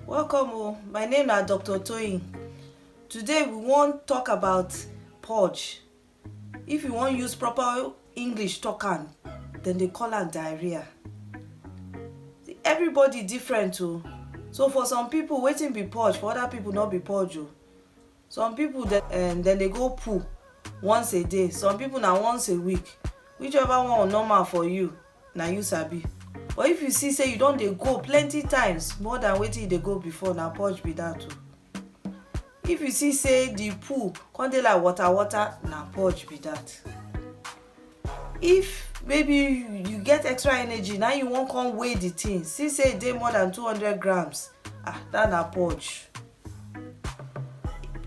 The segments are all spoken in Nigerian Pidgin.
Welcome o, my name na Doctor Toyin. Today we wan talk about purge. If you wan use proper English talk am, dem dey call am diarrhea. Everybody different o, so for some people wetin be purge for other people no be purge o. some people dem um, dem dey go poo once a day some people na once a week whichever one normal for you na you sabi but if you see say you don dey go plenty times more than wetin you dey go before na purge be that o if you see say the poo come dey like water water na purge be that if maybe you get extra energy now you wan come weigh the thing see say e dey more than 200 grams ah that na purge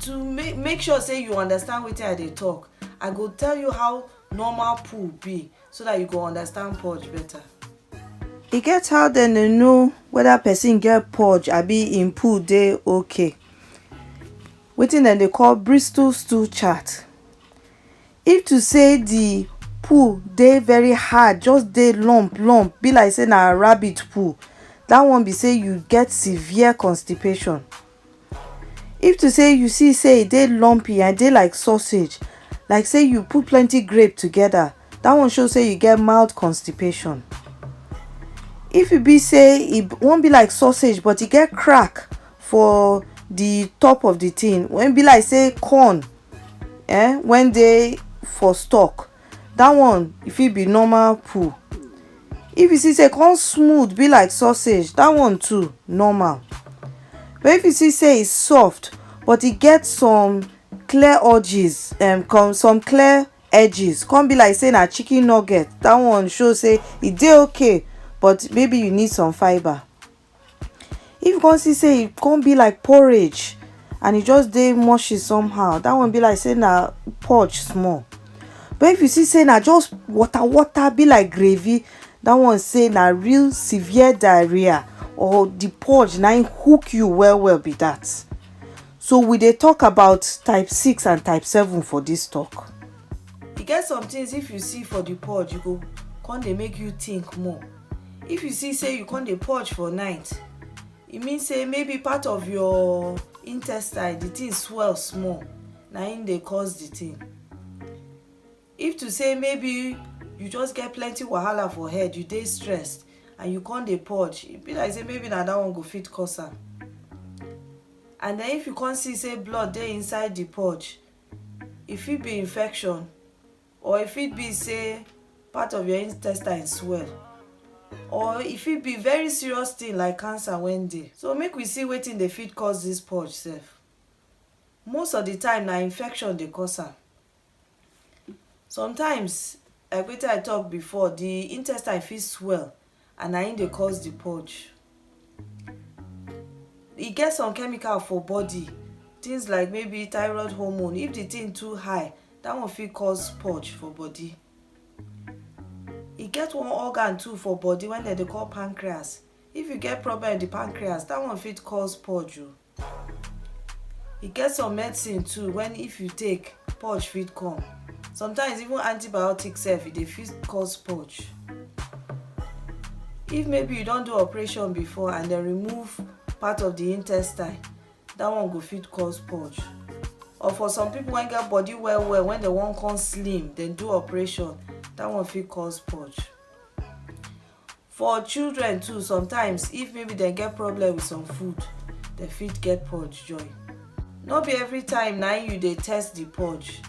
to make make sure say you understand wetin i dey talk i go tell you how normal poo be so that you go understand purge better. e get how dem dey know whether person get purge abi im poo dey okay wetin dem dey call bristol stool chart If to say the poo dey very hard, just dey lump lump, be like say na rabbit poo, that one be say you get severe constipation. If to say you see say e dey lumpy and e dey like sausage, like say you put plenty grape together, that one show say you get mild constipation. If e be say e wan be like sausage but e get crack for the top of the thing, when e be like say corn eh when dey for stock that one e fit be normal poo if you see say e come smooth be like sausage that one too normal but if you see say e soft but e get some clear edges um, come some clear edges come be like say na chicken nugget that one show say e dey okay but maybe you need some fibre if you come see say e come be like porridge and e just dey mushy somehow that one be like say na purge small but if you see say na just water water be like gravy that one say na real severe diarrhea or the purge na hook you well well be that so we dey talk about type six and type seven for this talk e get some things if you see for the purge you go come dey make you think more if you see say you come dey purge for night e mean say maybe part of your intestine the thing swell small na im dey cause the thing if to say maybe you just get plenty wahala for head you dey stressed and you come dey purge e be like say maybe na that one go fit cause am and then if you come see say blood dey inside the purge e fit be infection Or e fit be sey part of your intestine swell or e fit be very serious thing like cancer wen dey. So make we see wetin dey fit cause dis purge sef. Most of de time na infection dey cause am. Sometimes like wetin I talk before de intestine fit swell and na im dey cause the purge e get some chemical for body things like maybe thyroid hormone if the thing too high that one fit cause purge for body e get one organ too for body wey dem dey call pancreas if you get problem with the pancreas that one fit cause purge o E get some medicine too when if you take, purge fit come. Sometimes even antibiotics sef e dey fit cause purge. If maybe you don do operation before and dem remove part of the intestine, that one go fit cause purge. Or for some people wey get body well well when dem wan come slim, dem do operation, that one fit cause purge. for children too sometimes if maybe dem get problem with some food dem fit get purge join no be every time na you dey test the purge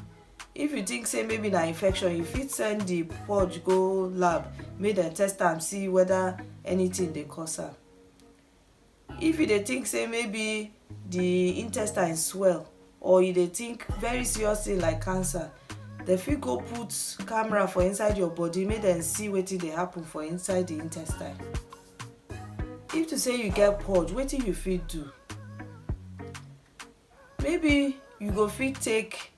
if you think say maybe na infection you fit send the purge go lab make dem test am see whether anything dey cause am if you dey think say maybe the intestine swell or you dey think very serious thing like cancer dem fit go put camera for inside your body make dem see wetin dey happen for inside the intestine if to say you get purge wetin you fit do maybe you go fit take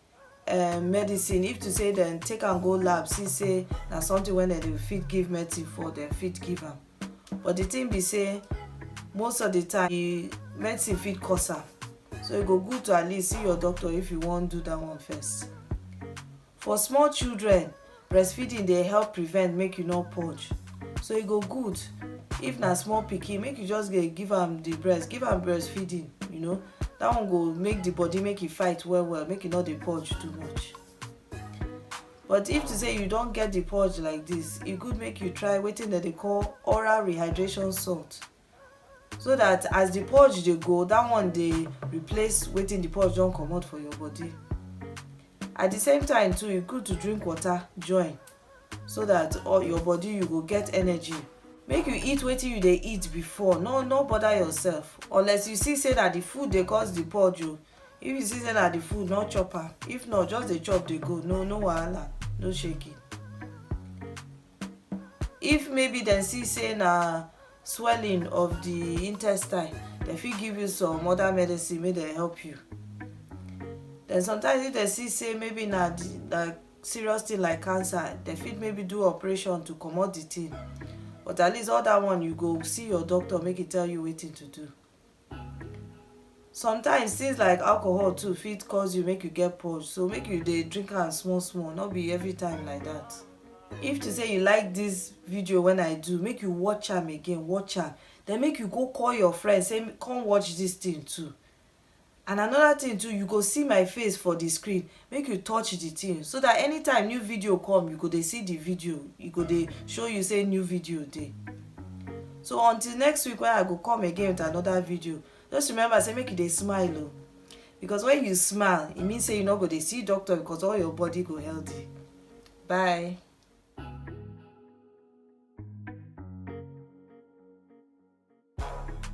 um medicine if to say dem take am go lab see say na something wey dem dey fit give medicine for dem fit give am but the thing be say most of the time the medicine fit cause am so e go good to at least see your doctor if you wan do that one first for small children breastfeeding dey help prevent make you no purge so e go good if na small pikin make you just dey give am the breast give am breastfeeding you know that one go make the body make e fight well well make e no dey purge too much but if to say you don get the purge like this e good make you try wetin dem dey call oral rehydration salt so that as the purge dey go that one dey replace wetin the purge don comot for your body at the same time too e good to drink water join so that all your body you go get energy make you eat wetin you dey eat before no no bother yourself unless you see say na the food dey cause the purge o if you see say na the food no chop am if not just dey chop dey go no no wahala no shaking if maybe dem see say na swelling of the intestine dem fit give you some other medicine make dem help you then sometimes if dem see say maybe na the na serious thing like cancer dem fit maybe do operation to comot the thing but at least all that one you go see your doctor make e tell you wetin to do sometimes things like alcohol too fit cause you make you get purge so make you dey drink am small small no be every time like that if to say you like this video when i do make you watch am again watch am then make you go call your friend say come watch this thing too and another thing too you go see my face for the screen make you touch the thing so that anytime new video come you go dey see the video e go dey show you say new video dey so until next week when i go come again with another video just remember say make you dey smile o because when you smile e mean say you no go dey see doctor because all your body go healthy bye